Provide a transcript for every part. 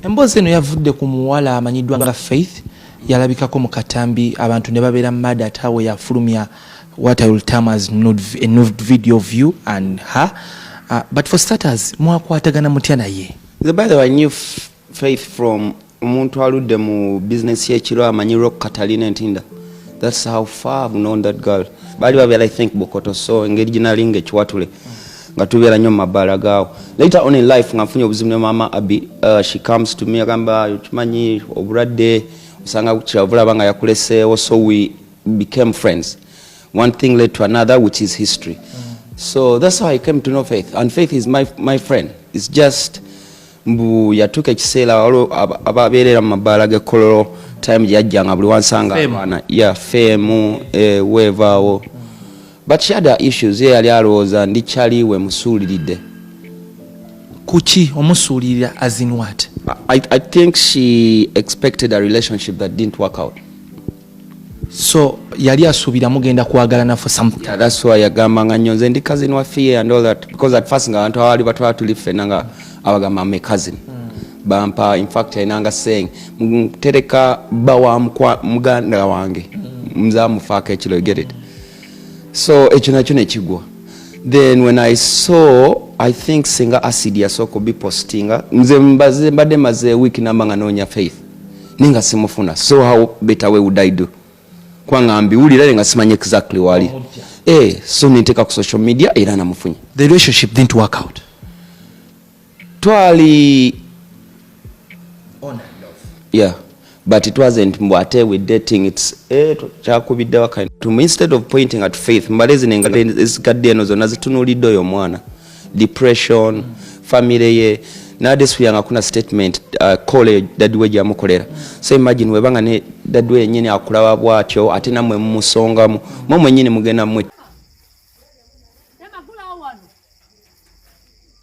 Emboozi eno yavudde ku muwala amanyiddwa nga Faith yalabikako mu katambi abantu ne babeera mada ate awo yafulumya what I will term as nude, a nude video of you and her uh, but for starters mwakwatagana mutya naye the by the way I knew Faith from omuntu aludde mu business yekiro amanyi rock Catalina Ntinda that's how far I've known that girl bali babeera I think Bokoto so engeri ginalinga ekiwatule mm. nga tubeera nnyo mu mabbaala gaawo later on in life nga nfunye obuzibu ne maama abi uh, she comes to me agamba okimanyi obulwadde osanga kyavulaba nga yakuleseewo so we became friends one thing led to another which is history so that's how i came to know faith and faith is my, my friend its just mbu yatuuka ekiseera waliwo ababeerera mu mabbaala g'ekkololo time gye yajjanga buli wansanga abaana ya feemu eh, weevaawo But she had her issues ye yali alowooza ndi chali we musuuliride kuki omusuulirira as in what I, I think she expected a relationship that didn't work out so yali asuubira mugenda kwagalana for something yeah, that's why yagamba nga nnyo nze ndi cousin wa fear and all that because at first nga abantu abaali batwala tuli ffena nga abagamba me cousin mm. bampa infact yalinanga saying ntereka bba wa muganda wange mm. mzamufaako ekiro you get it mm. so ekyo nakyo nekigwa then when i saw i think singa acid yasooka obipostinga nze mbadde maze week namba nga noonya faith naye nga simufuna so how better way would i do kubanga mbiwulira nga simanyi exactly wali eh, so ninteeka ku social media era namufunye the relationship didn't work out twali yeah but it wasn't mbu ate we dating its eh, kyakubidde waka to instead of pointing at faith mbale zino engalo ezigadde eno zonna zitunulidde oyo omwana depression mm. family ye nadesuyanga kuna statement uh, kole dadiwe gyamukolera so imagine webanga ne dadiwe yenyini akulaba bwatyo ate namwe mumusongamu mwe mwenyini mugenda mwe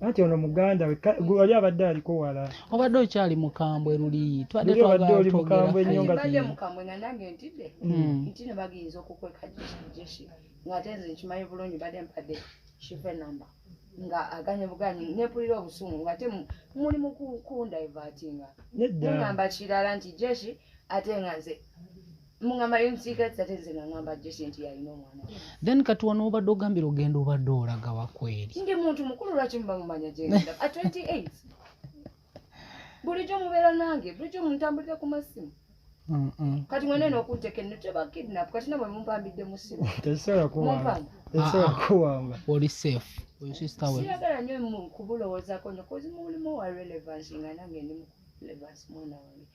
anti ono muganda we ka- gwe wali abadde aliko wala obadde okyali mukambwe luli twadde Luli obadde twagala oli twogera mukambwe nnyo fayiro. nga- mbadde mukambwe nga nange ntidde Mm. nti ne bagiyinza okukweka jeshi ng'ate nze nkimanyi bulungi badde mpadde shiva enamba nga aganye buganyi nepulira obusungu ngate mu- muli mu ku- kundivatinga nedda mugamba kirala nti jeshi ate nga nze mungamba yonsiika tate nze nga ngamba jesi nti yalina omwana then kati wano obadde ogambira ogenda obadde olaga wakweri ndi muntu mukulu lwaki muba mumanya gyenda a 28 bulijjo mubeera nange bulijjo muntambulira ku masimu kati mwena eno okunteka enno tebakidnap kati namwe mumpambidde mu simu tesobola oli safe siyagala nyo kubulowoozaako nyo kozi mulimu wa relevance nga nange ndi mu relevance mwana wange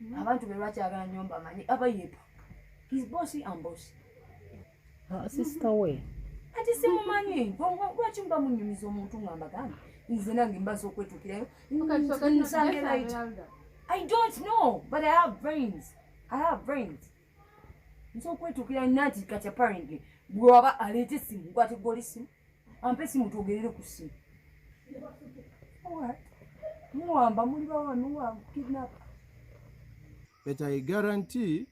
Mhm. abantu be lwaki agala nyo mbamanyi aba yepa his bossy and bossy ah, sister we ati simumanyi lwaki mba munyumiza omuntu nga mbagamba nze nange mbaza okwetukirayo i don't know but i have brains i have brains nsobola okwetukira nati kati apparently bwewaba aleeta esimu gwati gwoli simu ampe simu twogerere ku simu muwamba muli bawanuwa kidnap but i guarantee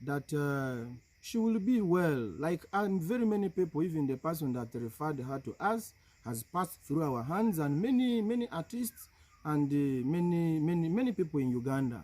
that uh, she will be well like and very many people even the person that referred her to us has passed through our hands and many many artists and uh, many many many people in uganda